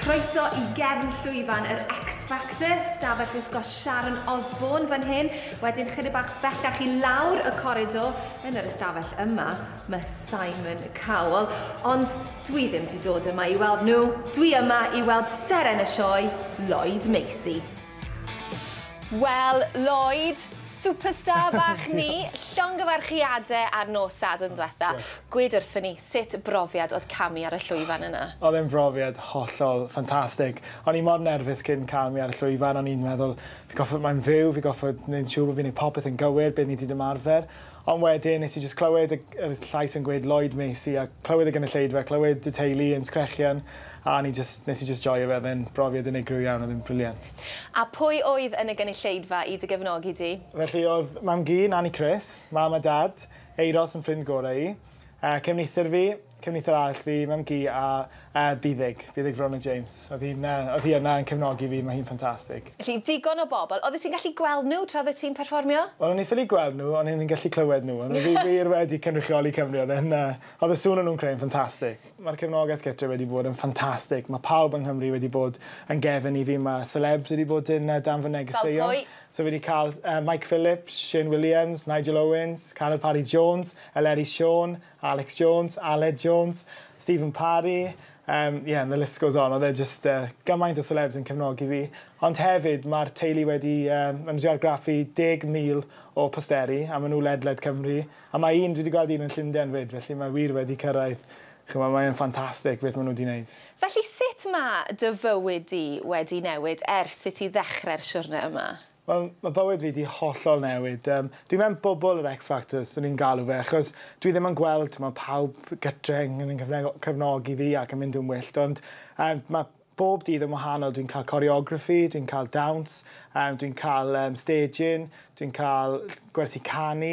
Croeso i gefn llwyfan yr X Factor, stafell wisgo Sharon Osbourne fan hyn, wedyn chydig bach bellach i lawr y coridor, yn yr ystafell yma, mae Simon Cowell, ond dwi ddim wedi dod yma i weld nhw, dwi yma i weld seren y sioe, Lloyd Macy. Wel, Lloyd, superstar bach ni, llongyfarchiade ar nos Sadwrn dwetha. Gwed wrthon ni, sut brofiad oedd camu ar y llwyfan yna? Oedd e'n frofiad hollol ffantastig. O'n i mor nerfus cyn camu ar y llwyfan, o'n i'n meddwl, fi goffod, mae'n fyw, fi goffod neud yn siŵr bo' fi'n neud popeth yn gywir, be' ni 'di ymarfer. Ond wedyn, nes i jyst clywed y y llais yn gweud Lloyd Macy a clywed y gynulleidfa, clywed y teulu yn sgrechian a o'n i jyst, nes i jyst joio fe, oedd e'n brofiad unigryw iawn, oedd e'n brilliant. A pwy oedd yn y gynulleidfa i dy gefnogi di? Felly oedd mam-gu, Nani Chris, mam a dad, Euros yn ffrind gorau i, yy cefnithr fi, Cefneithiwr arall fi, Mam Gu a yy Buddug. Buddug Verona James. O'dd hi'n yy o'dd hi yna yn cefnogi fi, ma' hi'n ffantastig. Felly, digon o bobl. Oeddet ti'n gallu gweld nhw tra oeddet ti'n perfformio? Wel, o'n i'n ffili gweld nhw, ond o'n i'n gallu clywed nhw. O'n nhw wir wedi cynrychioli Cymru. Oedd e'n yy... Oedd y sŵn o'n nhw'n creu'n ffantastig. Mae'r cefnogaeth gytre wedi bod yn ffantastig. Mae pawb yng Nghymru wedi bod yn gefn i fi. Mae selebs wedi bod yn yy dan fy negeseuon. Fel pwy? So fi 'di cael yy Mike Phillips, Shane Williams, Nigel Owens, Carel Parry Jones, Eleri Siôn, Alex Jones, Aled Jones, Stephen Parry, um, yeah, the list goes on. Oedd e just uh, gymaint o celebs yn cefnogi fi. Ond hefyd, mae'r teulu wedi um, yn argraffu 10,000 o posteri, a maen nhw ledled Cymru. A mae un, dwi wedi gweld un yn Llundain fyd, felly mae wir wedi cyrraedd. Chyma, mae'n ffantastig beth maen nhw wedi gwneud. Felly, sut mae dy fywyd di wedi newid ers i ti ddechrau'r siwrne yma? Wel, mae bywyd fi 'di hollol newid. Yym, dwi mewn bwbl yr X Factor, 'swn i'n galw fe, achos dwi ddim yn gweld, t'mo', pawb gytre yn yn cyfne- cefnogi fi ac yn mynd yn wyllt, ond yym ma' bob dydd yn wahanol. Dwi'n cael coreography, dwi'n cael dawns, yym dwi'n cael yym staging, dwi'n cael gwersi canu,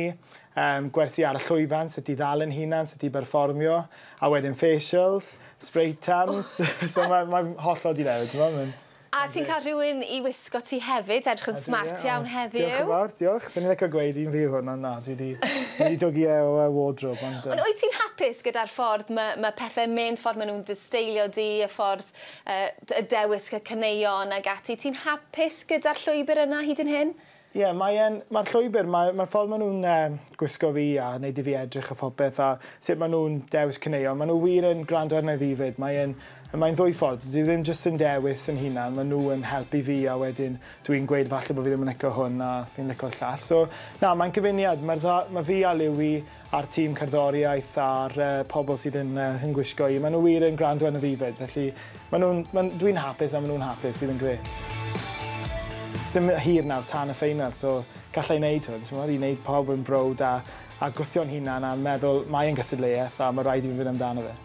yym gwersi ar y llwyfan, sut i ddal yn hunan, sut i berfformio, a wedyn facials, spray tans, so ma' mae'n hollol 'di newid, t'mo', ma'n A ti'n cael rhywun i wisgo ti hefyd, edrych yn smart iawn heddiw. Diolch yn fawr, diolch. Swn i'n licio gweud un fi yw hwn, ond na, dwi 'di dwgu e o y wardrobe, ond yy... Ond wyt ti'n hapus gyda'r ffordd ma' ma' pethe'n mynd, ffordd ma' nhw'n dy steilio di, y ffordd yy y dewis y caneuon ag ati, ti'n hapus gyda'r llwybr yna hyd yn hyn? Ie, mae e'n... Mae'r llwybr, mae, mae'r ffordd maen nhw'n e, gwisgo fi a wneud i fi edrych a phopeth a sut maen nhw'n dewis caneuon, maen nhw wir yn gwrando arna i fi 'fyd. Mae e'n, mae'n ddwy ffordd, dyw e ddim jyst yn dewis yn hunan, maen nhw yn helpu fi a wedyn dw i'n gweud falle bod fi ddim yn licio hwn a fi'n lico'r llall. So, na, mae'n cyfuniad, mae'r dda-, mae fi a Liwi a'r tîm cerddoriaeth a'r uh, pobl sydd yn, uh, yn gwisgo i. Maen nhw wir yn gwrando yn y ddifed, felly maen nhw, maen, dwi'n hapus a maen nhw'n hapus, sydd yn gre. Sym hir nawr tan y ffeinal, so gallai wneud hwn, ti'n i wneud pawb yn brod a, a gwythio'n hunan a'n meddwl mae'n gystadleuaeth a mae rhaid i fi fynd amdano fe.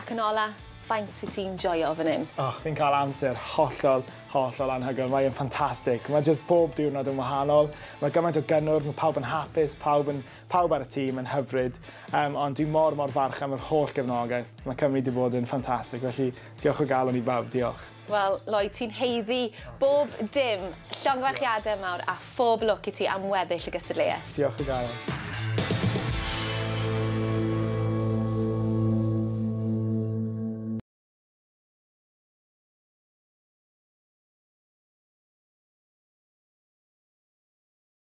Ac yn ola, faint wyt ti'n joio fan hyn? Och, fi'n cael amser hollol, hollol anhygoel. Mae'n ffantastig. Mae jyst bob diwrnod yn wahanol. Mae gymaint o gynnwrf, mae pawb yn hapus, pawb yn Pawb ar y tîm yn hyfryd, yym, ond dwi mor mor falch am yr holl gefnogaeth. Mae Cymru 'di bod yn ffantastig, felly diolch o galon i bawb, diolch. Wel, Lloyd, ti'n haeddu bob dim. Llongyfarchiadau mawr a phob lwc i ti am weddill y gystadleuaeth. Diolch o galon.